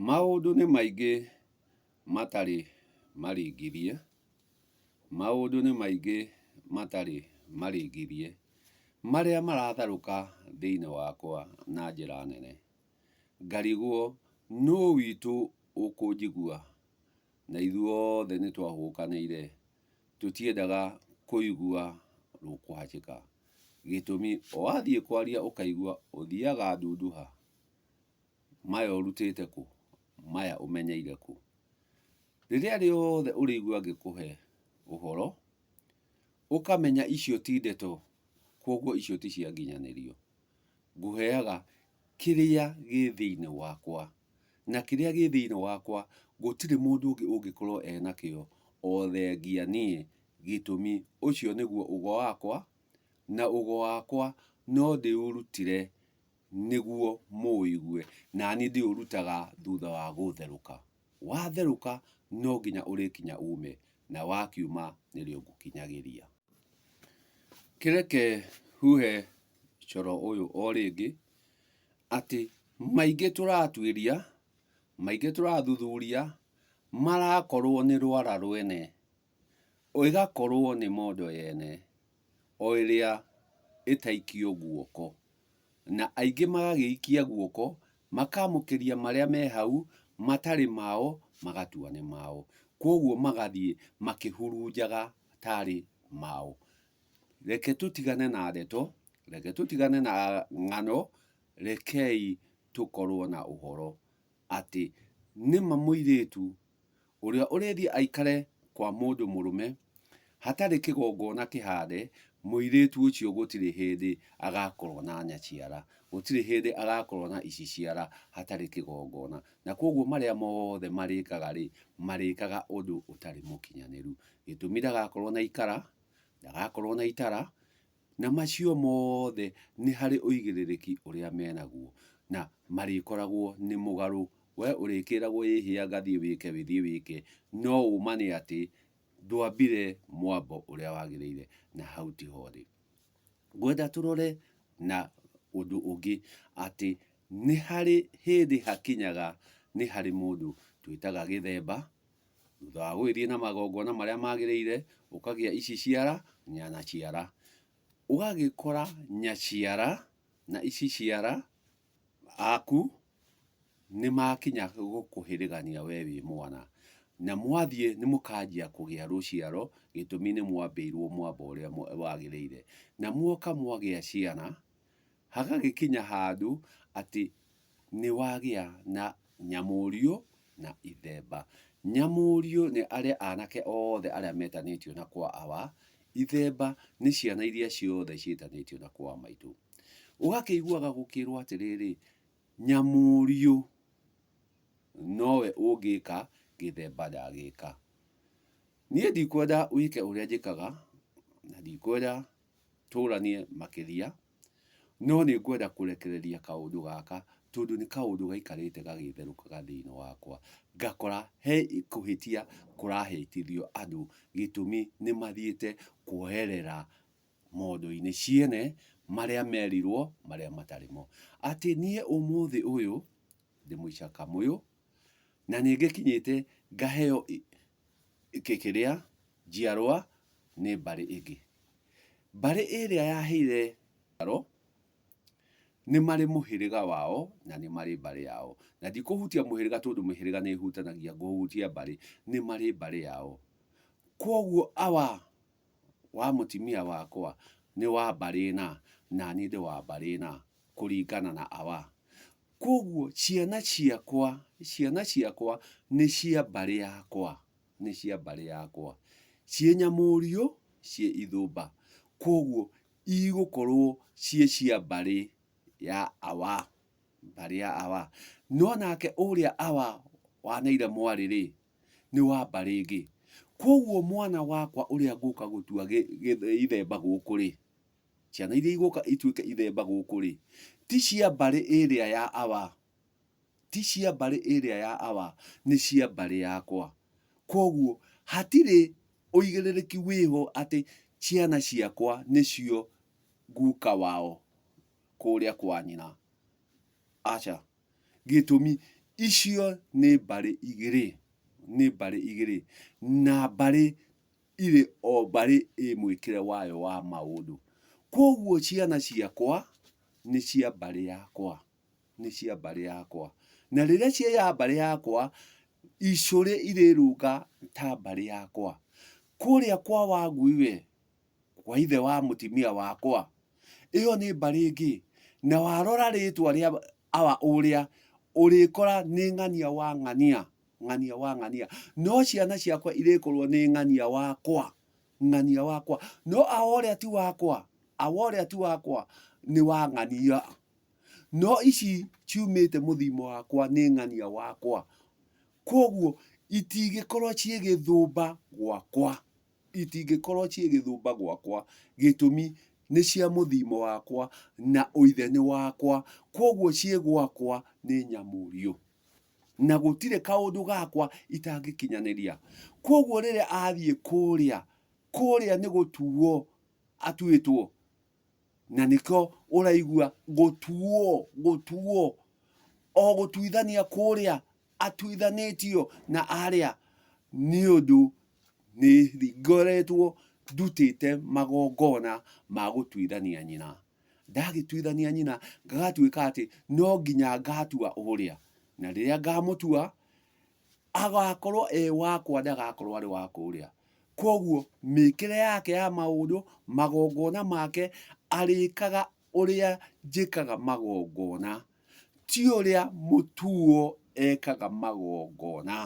Maũndũ nĩ maingĩ matarĩ maringithie, maũndũ nĩ maingĩ matarĩ maringithie, marĩa maratharũka thĩinĩ wakwa na njĩra nene, ngarigwo nũ witũ ũkũnjigua, na ithuothe nĩ twahũkanĩire, tũtiendaga kũigua rũkũhacĩka, gĩtũmi wathiĩ kwaria ũkaigua ũthiaga ndunduha. Maya ũrutĩte kũ? Maya ũmenyeire kũ? Rĩrĩa rĩothe ũrĩigua ngĩkũhe ũhoro, ũkamenya icio ti ndeto, kwoguo icio ti cia nginyanĩrio. Ngũheaga kĩrĩa gĩ thĩinĩ wakwa, na kĩrĩa gĩ thĩinĩ wakwa gũtirĩ mũndũ ũngĩ ũngĩkorwo e nakĩo o thengia niĩ, gĩtũmi ũcio nĩguo ugo wakwa, na ugo wakwa no ndĩũrutire nĩguo mũũigue, na niĩ ndĩũrutaga thutha wa gũtherũka. Watherũka no nginya ũrĩkinya uume, na wakiuma nĩrĩo ngũkinyagĩria. Kĩreke huhe coro ũyũ o rĩngĩ, atĩ maingĩ tũratuĩria, maingĩ tũrathuthuria, marakorwo nĩ rwara rwene. O ĩgakorwo nĩ mondo yene, o ĩrĩa ĩtaikio guoko. Na aingĩ magagĩikia guoko, makaamũkĩria marĩa me hau matarĩ mao, magatua nĩ mao. Kwoguo magathiĩ makĩhurunjaga tarĩ mao. Reke tũtigane na ndeto, reke tũtigane na ng'ano, rekei tũkorwo na ũhoro atĩ nĩ ma mũirĩtu Ũrĩa ũrĩthiĩ aikare kwa mũndũ mũrũme hatarĩ kĩgongona kĩhaande, mũirĩĩtu ũcio gũtirĩ hĩndĩ agaakorwo na nyaciara, gũtirĩ hĩndĩ agaakorwo na iciciara hatarĩ kĩgongona. Na kwoguo marĩa moothe marĩĩkaga-rĩ, marĩĩkaga ũndũ ũtarĩ mũkinyanĩru. Gĩtũmi ndagaakorwo na ikara, ndagaakorwo na itara, Na macio mothe nĩ harĩ ũigĩrĩrĩki ũrĩa menaguo, na marĩkoragwo nĩ mũgarũ. Wee ũrĩkĩragwo ĩhĩa gathiĩ wĩke wĩthiĩ wĩke, no ũma nĩ atĩ ndwambire mwambo ũrĩa wagĩrĩire, na hau tiho ũrĩ. Ngwenda tũrore na ũndũ ũngĩ atĩ nĩ harĩ hĩndĩ hakinyaga nĩ harĩ mũndũ twĩtaga gĩthemba, Thutha wa gũgĩthiĩ na magongona marĩa magĩrĩire, ũkagĩa ici ciara, nyanaciara. Ũgagĩkora nyaciara na ici ciara aku nĩ makinya gũkũhĩrĩgania we wĩ mwana. Na mwathiĩ nĩ mũkanjia kũgĩa rũciaro, gĩtũmi nĩ mwambĩirwo mwamba ũrĩa wagĩrĩire. Na muoka mwagĩa ciana, Hagagĩkinya handũ atĩ nĩwagĩa na nyamũrio na ithemba. Nyamũrio nĩ arĩa anake othe arĩa metanĩtio na kwa awa, ithemba nĩ ciana iria ciothe ciĩtanĩtio na kwa maitũ. Ũgakĩiguaga gũkĩrwo atĩrĩrĩ, nyamũrio nowe ũngĩka gĩthemba ndagĩka. Niĩ ndikwenda wĩke ũrĩa njĩkaga, na ndikwenda tũranie makĩria, no nĩ ngwenda kũrekereria kaũndũ gaka tondũ nĩ kaũndũ gaikarĩte gagĩtherũkaga thĩinĩ wakwa, ngakora he kũhĩtia kũrahĩtithio andũ gĩtũmi nĩ mathiĩte kwoerera mondo-inĩ ciene marĩa merirwo marĩa matarĩ mo. Atĩ niĩ ũmũthĩ ũyũ ndĩ mũica kamũyũ. Na nĩ ngĩkinyĩte ngaheo kĩrĩa, njiarwa nĩ mbarĩ ĩngĩ. Mbarĩ ĩrĩa yaheire njiaro nĩ marĩ mũhĩrĩga wao na nĩ marĩ mbarĩ yao. Na ndikũhutia mũhĩrĩga tondũ mĩhĩrĩga nĩ ĩhutanagia, ngũhutia mbarĩ. Nĩ marĩ mbarĩ yao. Kwoguo awa wa mũtumia wakwa nĩ wa mbarĩ ĩna, na niĩ ndĩ wa mbarĩ ĩna kũringana na awa. Kwoguo ciana ciakwa, ciana ciakwa nĩ cia mbarĩ yakwa, nĩ cia mbarĩ yakwa, ciĩ nyamũũriũ, ciĩ ithũmba, kwoguo igũkorwo ciĩ cia mbarĩ ya Awa, mbarĩ ya Awa. No nake ũrĩa Awa waneire mwarĩ-rĩ, nĩ wa mbarĩ ĩngĩ. Kwoguo mwana wakwa ũrĩa ngũka gũtua ithe gũkũ-rĩ. Ciana iria igũka ituĩke ithemba gũkũ-rĩ, ti cia mbarĩ ĩrĩa ya awa, ti cia mbarĩ ĩrĩa ya awa, nĩ cia mbarĩ yakwa. Kwoguo hatirĩ ũigĩrĩrĩki wĩho atĩ ciana ciakwa nĩcio guka wao kũrĩa kwa nyina. Aca. Gĩtũmi, icio nĩ mbarĩ igĩrĩ, nĩ mbarĩ igĩrĩ, na mbarĩ irĩ o mbarĩ ĩ mwĩkĩre wayo wa maũndũ. Kwoguo ciana ciakwa nĩ cia mbarĩ yakwa, nĩ cia mbarĩ yakwa. Na rĩrĩa ciaya mbarĩ yakwa, icũrĩ irĩrũnga ta mbarĩ yakwa. Kũrĩa kwa Wangui we, kwa ithe wa mũtimia wakwa, ĩyo nĩ mbarĩ ĩngĩ. Na warora rĩtwa rĩa awa ũrĩa, ũrĩkora nĩ ng'ania wa ng'ania. Ng'ania wa ng'ania. No ciana ciakwa irĩkorwo nĩ ng'ania wakwa. Ng'ania wakwa. No awa ũrĩa ti wakwa. Awa ũrĩa ti wakwa nĩ wa ng'ania. No ici ciumĩte mũthiimo wakwa nĩ ng'ania wakwa. Kwoguo itingĩkorwo ciĩ gĩthũmba gwakwa. Itingĩkorwo ciĩ gĩthũmba gwakwa. Gĩtũmi nĩ cia mũthiimo wakwa na ũithe nĩ wakwa. Kwoguo ciĩ gwakwa nĩ nyamũũrio. na gũtirĩ kaũndũ gakwa itangĩkinyanĩria. Kwoguo rĩrĩa athiĩ kũrĩa, kũrĩa nĩ gũtuo atuĩtwo, na nĩkĩo ũraigua gũtuo, gũtuo, o gũtuithania kũrĩa atuithanĩtio na arĩa, nĩ ũndũ nĩ ngoretwo ndutĩte magongona ma gũtuithania nyina ndagĩtuithania nyina ngagatuĩka atĩ no nginya ngatua ũrĩa na rĩrĩa ngamũtua agakorwo e wakwa ndagakorwo arĩ wa kũrĩa koguo mĩkĩre yake ya maũndũ magongona make arĩkaga ũrĩa njĩkaga magongona Ti ũrĩa mũtuo ekaga magongona,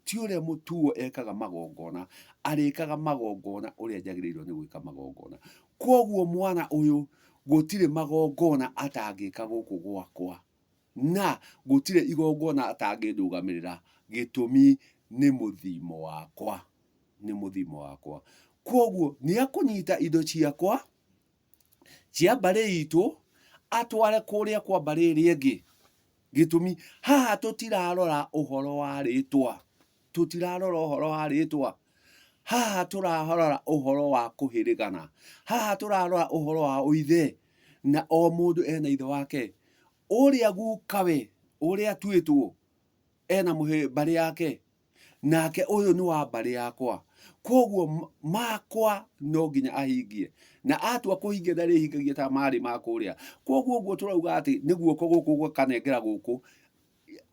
ti ũrĩa mũtuo ekaga magongona, arĩkaga magongona ũrĩa njagĩrĩirwo nĩ gwĩka magongona. Kwoguo mwana ũyũ gũtirĩ magongona atangĩka gũkũ gwakwa, na gũtirĩ igongona atangĩndũgamĩrĩra, gĩtũmi nĩ mũthiimo wakwa, nĩ mũthiimo wakwa. Kwoguo nĩekũnyita indo ciakwa, cia mbarĩ itũ atware kũrĩa kwa mbarĩ ĩrĩa ĩngĩ. Gĩtũmi, haha tũtirarora ũhoro wa rĩtwa, tũtirarora ũhoro wa rĩtwa, haha tũrarora ũhoro wa kũhĩrĩgana, haha tũrarora ũhoro wa ũithe, na o mũndũ ena ithe wake. Ũrĩa gukawe, ũrĩa atuĩtwo, ena mbarĩ yake, Nake ũyũ nĩ wa mbarĩ yakwa, kwoguo makwa no nginya ahingie. Na atua kũhingia ndarĩhingagia ta marĩ ma kũrĩa. Kwoguo ũguo tũrauga atĩ nĩ guoko gũkũ gũkanengera gũkũ,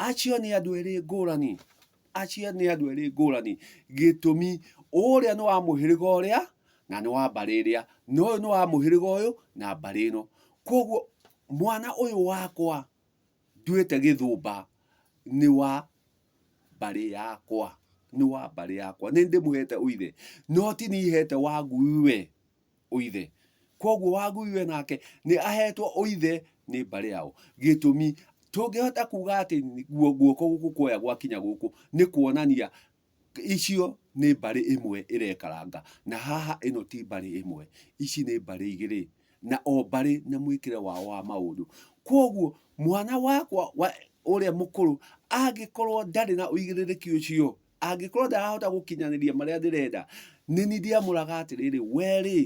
acio nĩ andũ erĩ ngũrani. Acio nĩ andũ erĩ ngũrani. Gĩtũmi, ũrĩa nĩ wa mũhĩrĩga ũrĩa, na nĩ wa mbarĩ ĩrĩa, na ũyũ nĩ wa mũhĩrĩga ũyũ, na mbarĩ ĩno. Kwoguo mwana ũyũ wakwa, Nduĩte gĩthũmba nĩ wa mbarĩ yakwa, nĩ wa mbarĩ yakwa. Nĩ ndĩmũhete ũithe, no ti niĩ hete Wangui we ũithe. Kwoguo Wangui we nake nĩ ahetwo ũithe nĩ mbarĩ yao. Gĩtũmi, tũngĩhota kuuga atĩ guoko gũkũ kuoya gwakinya gũkũ, nĩ kuonania icio nĩ mbarĩ ĩmwe ĩrekaranga, na haha ĩno ti mbarĩ ĩmwe, ici nĩ mbarĩ igĩrĩ, na o mbarĩ na mwĩkĩre wao wa maũndũ. Koguo mwana wakwa wa ũrĩa mũkũrũ angĩkorwo ndarĩ na ũigĩrĩrĩki ũcio, angĩkorwo ndarahota gũkinyanĩria marĩa ndĩrenda, nĩ niĩ ndiamũraga atĩrĩrĩ, we rĩ,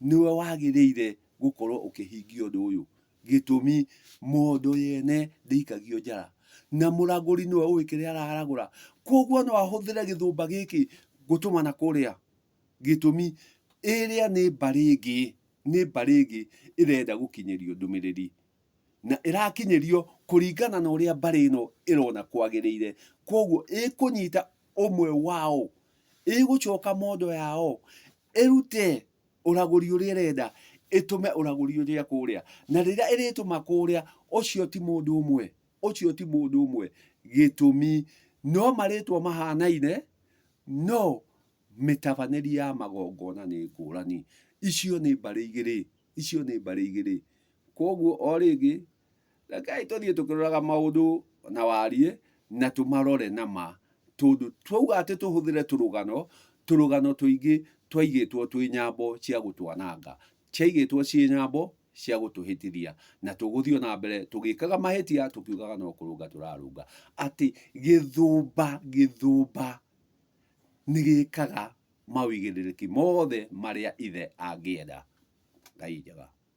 nĩwe wagĩrĩire gũkorwo ũkĩhingia ũndũ ũyũ. Gĩtũmi, mondo yene ndĩikagio njara, na mũragũri nĩwe ũĩ kĩrĩa araragũra, kwoguo no ahũthĩre gĩthũmba gĩkĩ gũtũma na kũrĩa. Gĩtũmi, ĩrĩa nĩ mbarĩ ĩngĩ, nĩ mbarĩ ĩngĩ ĩrenda gũkinyĩrio ndũmĩrĩri, na ĩrakinyĩrio kũringana na ũrĩa mbarĩ ĩno ĩrona kwagĩrĩire, kwoguo ĩkũnyita ũmwe wao, ĩgũcoka mondo yao ĩrute ũragũri ũrĩa ĩrenda ĩtũme ũragũri ũrĩa kũrĩa na rĩrĩa ĩrĩtũma kũrĩa ũcio ti mũndũ ũmwe ũcio ti mũndũ ũmwe gĩtũmi no marĩtwa mahanaine no mĩtabanĩrie ya magongona nĩ ngũrani icio nĩ mbarĩ igĩrĩ icio nĩ mbarĩ igĩrĩ kwoguo o rĩngĩ Rekei tũthiĩ tũkĩroraga maũndũ na wariĩ na tũmarore na ma, tondũ twauga atĩ tũhũthĩre tũrũgano, tũrũgano tũingĩ twaigĩtwo twĩ nyambo cia gũtwananga, ciaigĩtwo ciĩ nyambo cia gũtũhĩtithia, na tũgũthiĩ o na mbere tũgĩkaga mahĩtia tũkiugaga no kũrũnga tũrarũnga. Atĩ gĩthũmba, gĩthũmba nĩ gĩkaga maũigĩrĩrĩki mothe marĩa ithe angĩenda. Ngai njega.